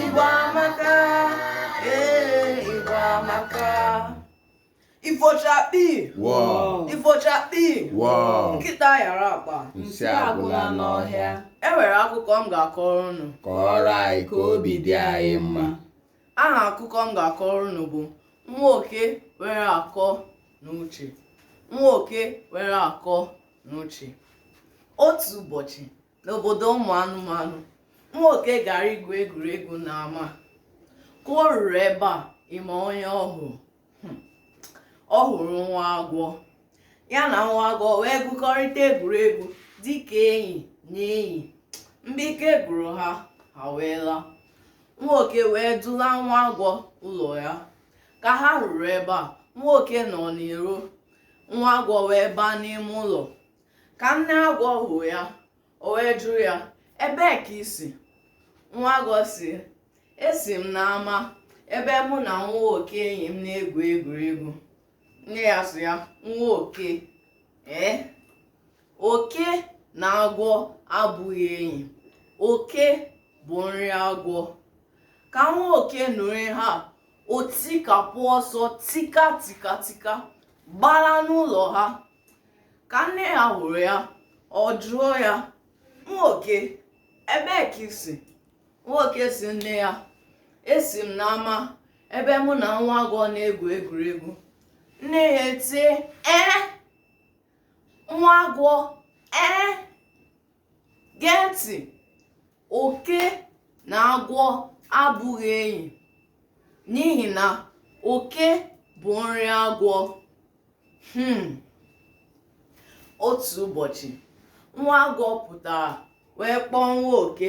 Igbo amaka ee Igbo amaka ifo chakpii ifo chakpii nkịta nyara akpa nsị agwụla n'ọhịa e nwere akụkọ m ga-akọrọ unu kọrọ anyị ka obi dị anyị mma aha akụkọ m ga-akọrọ unu bụ nwa oke nwere akọ na uche nwa oke nwere akọ na uche otu ụbọchị n'obodo ụmụ anụmanụ nwa oke gara igwu egwuregwu n'ama ka o ruru ebe a ị ma onye ọ hụrụ Hmm. ọ hụrụ nwa agwọ ya na nwa agwọ wee gwukọrịta egwuregwu dịka enyi na enyi mgbe ike gwụrụ ha ha wee laa nwa oke wee dula nwa agwọ ụlọ ya ka ha ruru ebe a nwa oke nọ n'iro nwa agwọ wee baa n'ime ụlọ ka nne agwọ hụ ya o wee jụ ya ebee ka i si nwa agwọ sị esi m n'ama ebe mụ na nwa oke enyi m na-egwu egwuregwu nne ya sị ya nwa oke ee oke na agwọ abụghị enyi oke bụ nri agwọ ka nwa oke nụrụ ihe a o tikapụ ọsọ tika tika tika gbalaa n'ụlọ ha ka nne ya hụrụ ya ọ jụọ ya nwa oke ebee ka i si nwa oke sị nne ya esi m n'ama ebe mụ na nwa agwọ na-egwu egwuregwu nne ya etie ee nwa agwọ ee gee ntị oke na agwọ abụghị enyi n'ihi na oke bụ nri agwọ hmm. otu ụbọchị nwa agwọ pụtara wee kpọọ nwa oke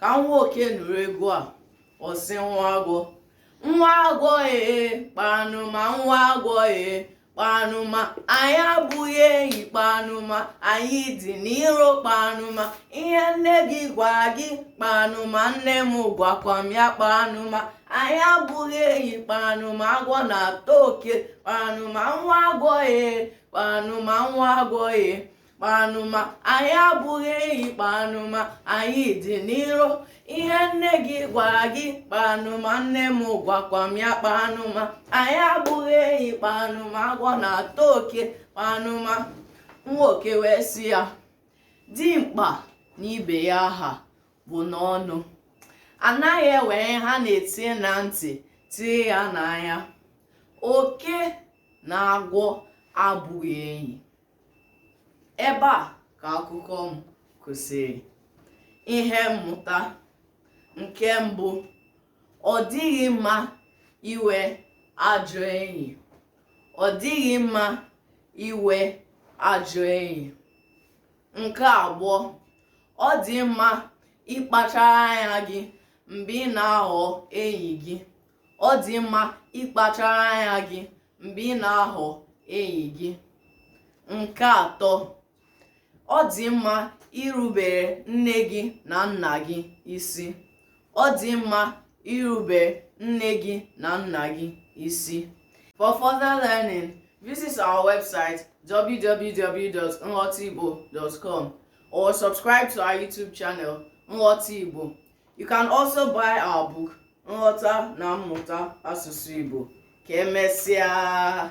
ka nwa oke nụrụ egwu a ọ sị nwa agwọ nwa agwọ ee kpanụma nwa agwọ ee kpanụma anyị abụghị enyi kpanụma anyị dị n'iro kpanụma ihe nne gị gwa gị kpanụma nne m gwakwa m ya kpanụma anyị abụghị enyi kpanụma agwọ na-ata oke kpanụma nwa agwọ ee kpanụma nwa agwọ ee kpanụma anyị abụghị enyi kpanụma anyị dị n'iro ihe nne gị gwara gị kpanụma nne m gwakwa m ya kpanụma anyị abụghị enyi kpanụma agwọ na-ata oke kpanụma nwa oke wee sị ya dimkpa na ibe ya ha bụ n'ọnụ anaghị ewere ihe a na-etinye na ntị tie ya n'anya oke na agwọ abụghị enyi ebe a ka akụkọ m kwụsịrị ihe mmụta nke mbụ ọ dịghị mma inwe ajọ enyi ọ dịghị mma inwe ajọ enyi nke abụọ ọ dị mma ịkpachara anya gị mgbe ị na-ahọ enyi gị ọ dị mma ịkpachara anya gị mgbe ị na-ahọ enyi gị nke atọ ọ dị mma irubere nne gị na nna gị isi ọ dị mma irubere nne gị na nna gị isi for further learning visit our website www.nghọtaigbo.com or subscribe to our youtube channel nghọta igbo You can also buy our book Nghọta na Mmụta Asụsụ Igbo. Ka emesịa!